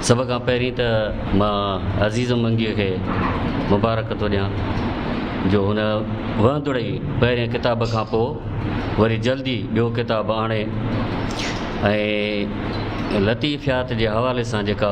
سڀ کان پهرين ته مان عزيز منگيء کي مبارڪ ٿو ڏيان جو هن وهندڙ ئي پهرين ڪتاب کان پوء وري جلدي ٻيو ڪتاب آڻي ۽ لطيفيات جي حوالي سان جيڪا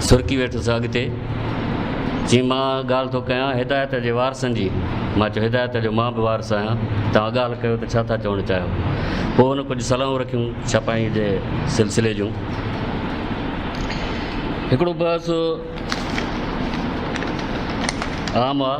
سرڪي ويٺس اڳتي چيم مان ڳالهه ٿو ڪيان هدايت جي وارثن جي. مان چيو هدايت جو مان به وارث آهيان. توهان ڳالهه ڪيو ته ڇا ٿا چوڻ چاهيو؟ پوء هن ڪجهه صلاحون رکيون ڇپائيء جي سلسلي جون. هڪڙو بحث عام آ.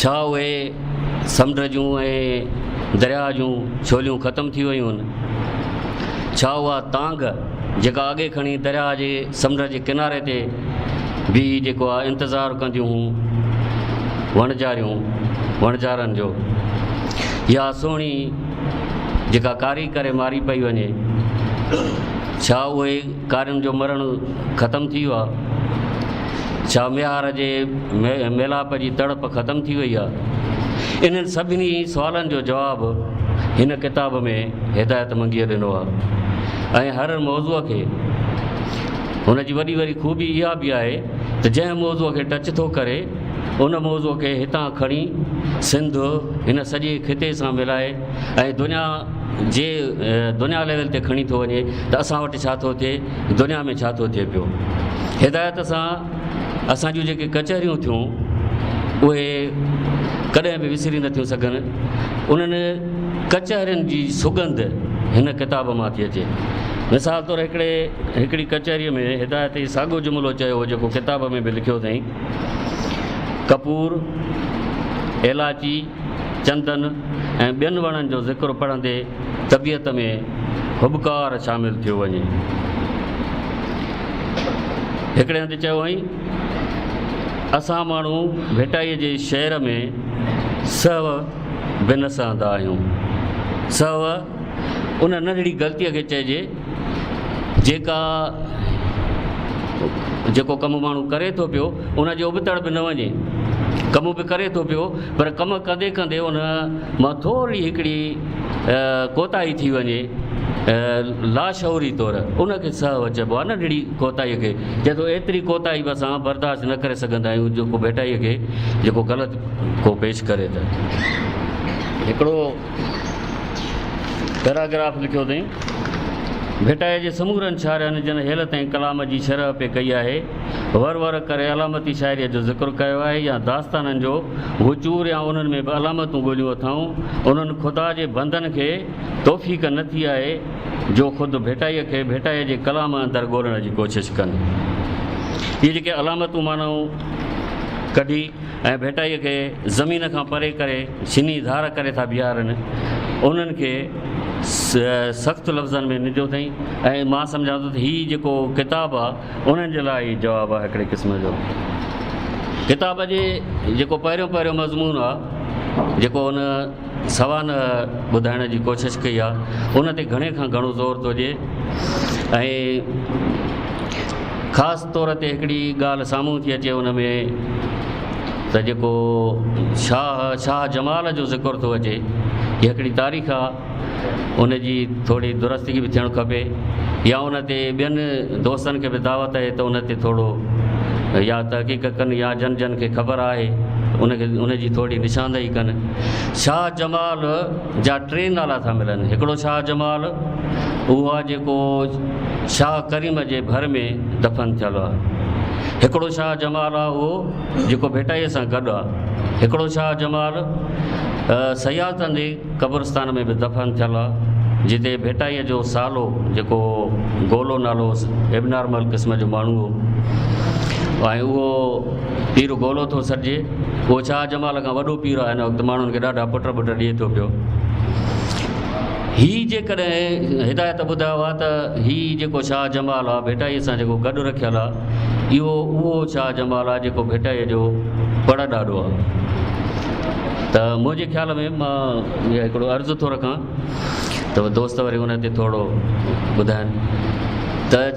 ڇا اهي سمنڊ جون ۽ درياهه جون ڇوليون ختم ٿي ويون هن؟ ڇا اها تانگهه جيڪا اڳي کڻي درياهه جي سمنڊ جي ڪناري تي بيهي جيڪو آ انتظار ڪنديون هون وڻجاريون وڻجارن جو يا سهڻي جيڪا ڪاري ڪري ماري پئي وڃي ڇا اهي ڪارين جو مرڻ ختم ٿي ويو آهي؟ ڇا ميهار جي ميلاپ جي تڙپ ختم ٿي وئي آهي؟ انهن سڀني سوالن جو جواب هن ڪتاب ۾ هدايت منگيء ڏنو آهي ۽ هر موضوع کي هن جي وڏي واري خوبي اها به آهي ته جنهن موضوع کي ٽچ ٿو ڪري ان موضوع کي هتان کڻي سنڌ هن سڄي خطي سان ملائي ۽ دنيا جي دنيا ليول تي کڻي ٿو وڃي ته اسان وٽ ڇا ٿو ٿئي دنيا ۾ ڇا ٿو ٿئي پيو هدايت سان اسان جون جيڪي ڪچهريون ٿيون اهي ڪڏهن به وسري نه ٿيون سگهن انهن ڪچهرين جي سگند هن ڪتاب مان ٿي اچي مثال طور هڪڙي هڪڙي ڪچهري ۾ هدايت جي ساڳو جملو چيو هو جيڪو ڪتاب ۾ به لکيو اٿائين ڪپور ايلاچي چندن ۽ ٻين وڻن جو ذڪر پڙهندي طبيعت ۾ هٻڪار شامل ٿيو وڃي. هڪڙي هنڌ چيو هئائين، اسان ماڻهو ڀٽائيء جي شعر ۾ سهو به نه سهندا آهيون. سهو! ان ننڍڙي غلطيء کي چئجي جيڪا جيڪو ڪم ماڻهو ڪري ٿو پيو ان جي ابتڙ به نه وڃي ڪم به ڪري ٿو پيو پر ڪم ڪندي ڪندي ان مان ٿورڙي هڪڙي ڪوتاهي ٿي وڃي لاشعوري طور ان کي سهو چئبو آهي ننڍڙي ڪوتاهي کي چئي ٿو ايتري ڪوتاهي به اسان برداشت نه ڪري سگهندا آهيون جيڪو ڀيٽائيء کي جيڪو غلط ڪو پيش ڪري ته هڪڙو پيراگراف لکيو اٿئين، ڀٽائيء جي سمورن شاعرياڻين جن حيلت ۽ ڪلام جي شرح پي ڪئي آهي، ور ور ڪري علامتي شاعريء جو ذڪر ڪيو آهي يا داستانن جو وچور يا انهن ۾ به علامتون ڳوليون اٿائون، انهن خدا جي بندن کي توفيق نه ٿي آهي جو خود ڀٽائيء کي ڀٽائيء جي ڪلام اندر ڳولڻ جي ڪوشش ڪن. اهي جيڪي علامتون معنائون ڪڍي. ۽ ڀيٽائيء کي زمين کان پري ڪري سنهي ڌار ڪري ٿا بيهارن، انهن کي سخت لفظن ۾ ننڊيو اٿئين ۽ مان سمجهان ٿو ته هي جيڪو ڪتاب آ انهن جي لاء ئي جواب آ هڪڙي قسم جو. ڪتاب جي جيڪو پهريون پهريون مضمون آ جيڪو هن سوانح ٻڌائڻ جي ڪوشش ڪئي آ ان تي گهڻي کان گهڻو زور ٿو ڏئي ۽ خاص طور تي هڪڙي ڳالهه سامهون ٿي اچي ان ۾ ته جيڪو شاهه شاهه جمال جو ذڪر ٿو اچي هي هڪڙي تاريخ آ ان جي ٿوري درستگي به ٿيڻ کپي يا ان تي ٻين دوستن کي به دعوت آهي ته ان تي ٿورو يا تحقيق ڪن يا جن جن کي خبر آهي ان کي ان جي ٿوري نشاندهي ڪن شاهه جمال جا ٽي نالا ٿا ملن هڪڙو شاهه جمال اهو آ جيڪو شاهه ڪريم جي ڀر ۾ دفن ٿيل آ هڪڙو شاهه جمال آ اهو جيڪو ڀٽائي سان گڏ آ هڪڙو شاهه جمال سيالتن جي قبرستان ۾ به دفن ٿيل آ جتي ڀٽائي جو سالو جيڪو گولو نالو ابنارمل قسم جو ماڻهو هو ۽ اهو پير گولو ٿو سڏجي. اهو شاهه جمال کان وڏو پير آهي هن وقت ماڻهن کي ڏاڍا پٽ ٻٽ ڏئي ٿو پيو هي جيڪڏهن هدايت ٻڌايو آهي ته هي جيڪو شاهه جمال آهي ڀيٽائي سان جيڪو گڏ رکيل آهي اهو اهو شاهه جمال آهي جيڪو ڀيٽائي جو پڙ ڏاڏو آهي ته منهنجي خيال ۾ مان هڪڙو عرض ٿو رکان ته دوست وري ان تي ٿورو ٻڌائن ته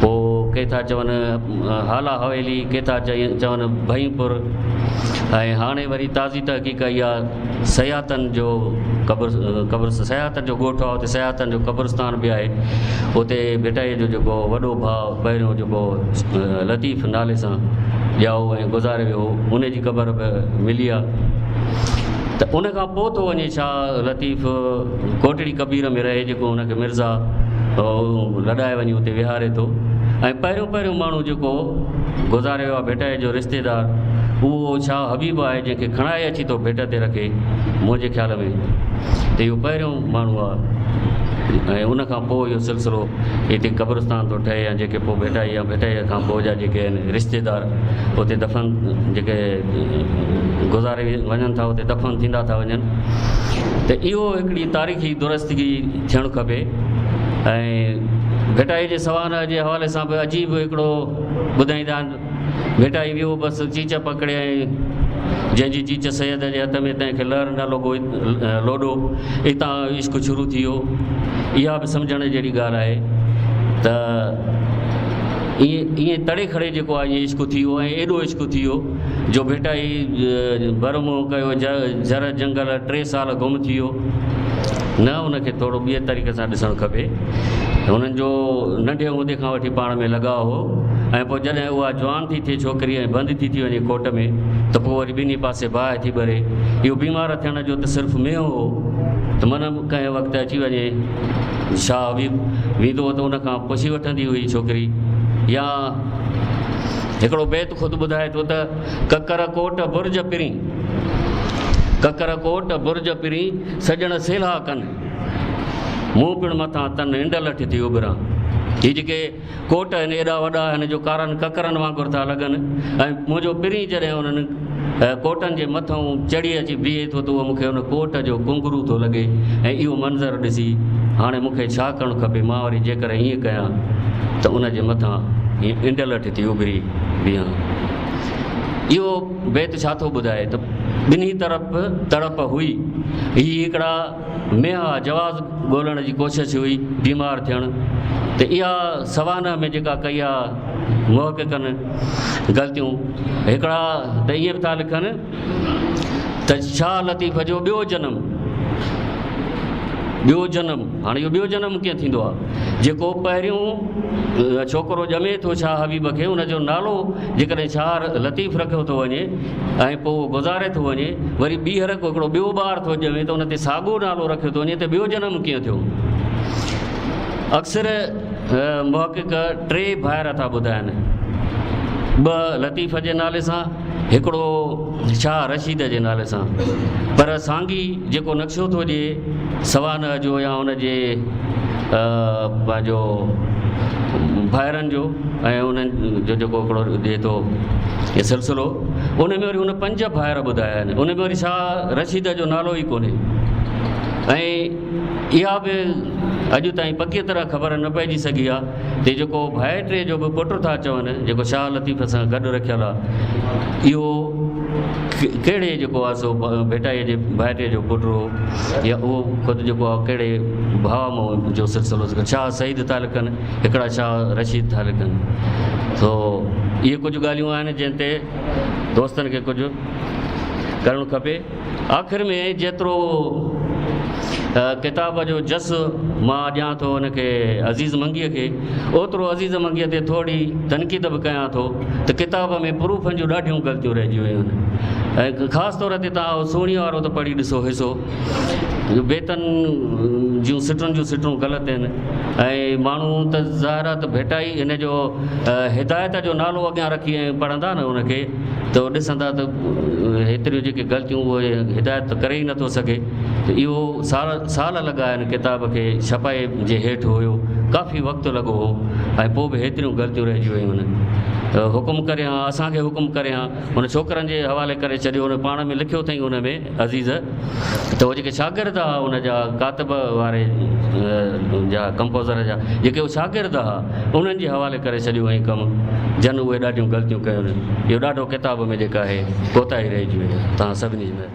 پوء ڪي ٿا چون هالا حويلي، ڪي ٿا چون ڀئين پور ۽ هاڻي وري تازي تحقيق ڪئي آ سياتن جو قبر قبر سياتن جو ڳوٺ آ اتي سياتن جو قبرستان به آهي اتي ڀٽائي جو جيڪو وڏو ڀاء پهريون جيڪو لطيف نالي سان ڄائو ۽ گذاري ويو هو ان جي قبر به ملي آ ته ان کان پوء ٿو وڃي شاهه لطيف ڪوٽڙي ڪبير ۾ رهي جيڪو هن کي مرزا لڏائي وڃي اتي ويهاري ٿو ۽ پهريون پهريون ماڻهو جيڪو گذاري ويو آهي ڀٽائي جو رشتيدار اهو شاهه حبيب آهي جنهن کي کڻائي اچي ٿو ڀٽ تي رکي منهنجي خيال ۾ ته اهو پهريون ماڻهو آهي ۽ ان کان پوء اهو سلسلو هتي قبرستان ٿو ٺهي يا جيڪي پوء ڀٽائي يا ڀٽائي کان پوء جا جيڪي آهن رشتيدار اتي دفن جيڪي گذاري وڃن ٿا اتي دفن ٿيندا ٿا وڃن ته اهو هڪڙي تاريخي درستگي ٿيڻ کپي ۽ ڀٽائي جي سوانح جي حوالي سان به عجيب هڪڙو ٻڌائيندا آهن ڀٽائي ويو بس چيچ پڪڙيائين جنهن جي چيچ سيد جي هٿ ۾ تنهن کي لهر نه لڳو لوڏو اتان عشق شروع ٿي ويو اها به سمجهڻ جهڙي ڳالهه آهي ته ائين ائين تڙي کڙي جيڪو آهي عشق ٿي ويو ۽ ايڏو عشق ٿي ويو جو ڀٽائي برمو ڪيو جر جنگل ٽي سال گم ٿي ويو نه ان کي ٿورو ٻئي طريقي سان ڏسڻ کپي هنن جو ننڍي هوندي کان وٺي پاڻ ۾ لڳاء هو ۽ پوء جڏهن اها جوان ٿي ٿئي ڇوڪري ۽ بند ٿي ٿي وڃي ڪوٽ ۾ ته پوء وري ٻنهي پاسي باهه ٿي ٻري اهو بيمار ٿيڻ جو ته صرف مينهن هو ته من ڪنهن وقت اچي وڃي شاهه حبيب ويندو هو ته ان کان پڇي وٺندي هئي ڇوڪري يا هڪڙو بيت خود ٻڌائي ٿو ته، ڪڪر ڪوٽ برج پرين، ڪڪر ڪوٽ برج پرين، سڄڻ سيلها ڪن، مون پڻ مٿان تن انڊ لٺ ٿي اڀران. هي جيڪي ڪوٽ آهن ايڏا وڏا آهن جو ڪارن ڪڪرن وانگر ٿا لڳن ۽ منهنجو پرين جڏهن انهن ڪوٽن جي مٿئون چڙهي اچي بيهي ٿو ته اهو مون کي ان ڪوٽ جو ڪونگرو ٿو لڳي ۽ اهو منظر ڏسي هاڻي مون کي ڇا ڪرڻ کپي؟ مان وري جيڪر ائين ڪيان ته ان جي مٿان هيء انڊلٺ ٿي اڀري بيهان. اهو بيت ڇا ٿو ٻڌائي ته ٻنهي طرف تڙپ هئي. هي هڪڙا ۾ اها جواز ڳولڻ جي ڪوشش هئي بيمار ٿيڻ ته اها سوانح ۾ جيڪا ڪئي آ محققن غلطيون هڪڙا ته ائين به ٿا لکن ته شاهه لطيف جو ٻيو جنم ٻيو جنم هاڻي اهو ٻيو جنم ڪيئن ٿيندو آ جيڪو پهريون ڇوڪرو ڄمي ٿو شاهه حبيب کي ان جو نالو جيڪڏهن شاهه لطيف رکيو ٿو وڃي ۽ پوء اهو گذاري ٿو وڃي، وري ٻيهر ڪو هڪڙو ٻيو ٻار ٿو ڄمي ته ان تي ساڳئو نالو رکيو ٿو وڃي ته ٻيو جنم ڪيئن ٿيو. اڪثر محقق ٽي ڀائر ٿا ٻڌائن، ٻه لطيف جي نالي سان، هڪڙو شاهه رشيد جي نالي سان، پر سانگي جيڪو نقشو ٿو ڏئي، سوانح جو يا ان جي پنهنجو ڀائرن جو ۽ انهن جو جيڪو هڪڙو ڏي ٿو هي سلسلو ان ۾ وري هن پنج ڀائر ٻڌايا آهن ان ۾ وري شاهه رشيد جو نالو ئي ڪونهي ۽ اها به اڄ تائين پڪيء طرح خبر نه پئجي سگهي آ ته جيڪو ڀائر ٽي جو به پٽ ٿا چون جيڪو شاهه لطيف سان گڏ رکيل آ اهو ڪهڙي جيڪو آ سو ڀيٽائي جي ڀائٽي جو پٽ هو يا اهو خود جيڪو آهي ڪهڙي ڀاء مان جو سلسلو ٿو شاهه سعيد ٿا لکن هڪڙا شاهه رشيد ٿا لکن سو اهي ڪجهه ڳالهيون آهن جنهن تي دوستن کي ڪجهه ڪرڻ کپي آخر ۾ جيترو ڪتاب جو جس مان ڏيان ٿو ان کي عزيز منگيء کي اوترو عزيز منگيء تي ٿورڙي تنقيد به ڪيان ٿو ته ڪتاب ۾ پروفن جون ڏاڍيون غلطيون رهجي ويون آهن ۽ خاص طور تي توهان اهو سهڻيء وارو ته پڙهي ڏسو حصو جو بيتن جون سٽون جون سٽون غلط آهن ۽ ماڻهو ته ظاهر آهي ته ڀيٽائي ان جو هدايت جو نالو اڳيان رکي ۽ پڙهندا نه ان کي ته ڏسندا ته هيتريون جيڪي غلطيون اهي هدايت ته ڪري ئي نٿو سگهي ته اهو سال سال لڳا هن ڪتاب کي ڇپائي جي هيٺ هيو ڪافي وقت لڳو هو ۽ پوء به هيتريون غلطيون رهجي ويون هن ته حڪم ڪري هان اسان کي حڪم ڪري هان هن ڇوڪرن جي حوالي ڪري ڇڏيو هن پاڻ ۾ لکيو اٿئين ان ۾ عزيز ته هو جيڪي شاگرد ها ان جا ڪاتب واري جا ڪمپوزر جا جيڪي هو شاگرد ها انهن جي حوالي ڪري ڇڏيو هئين ڪم جن اهي ڏاڍيون غلطيون ڪيون اهو ڏاڍو ڪتاب ۾ جيڪا آهي ڪوتاهي رهجي وئي تان سڀني جي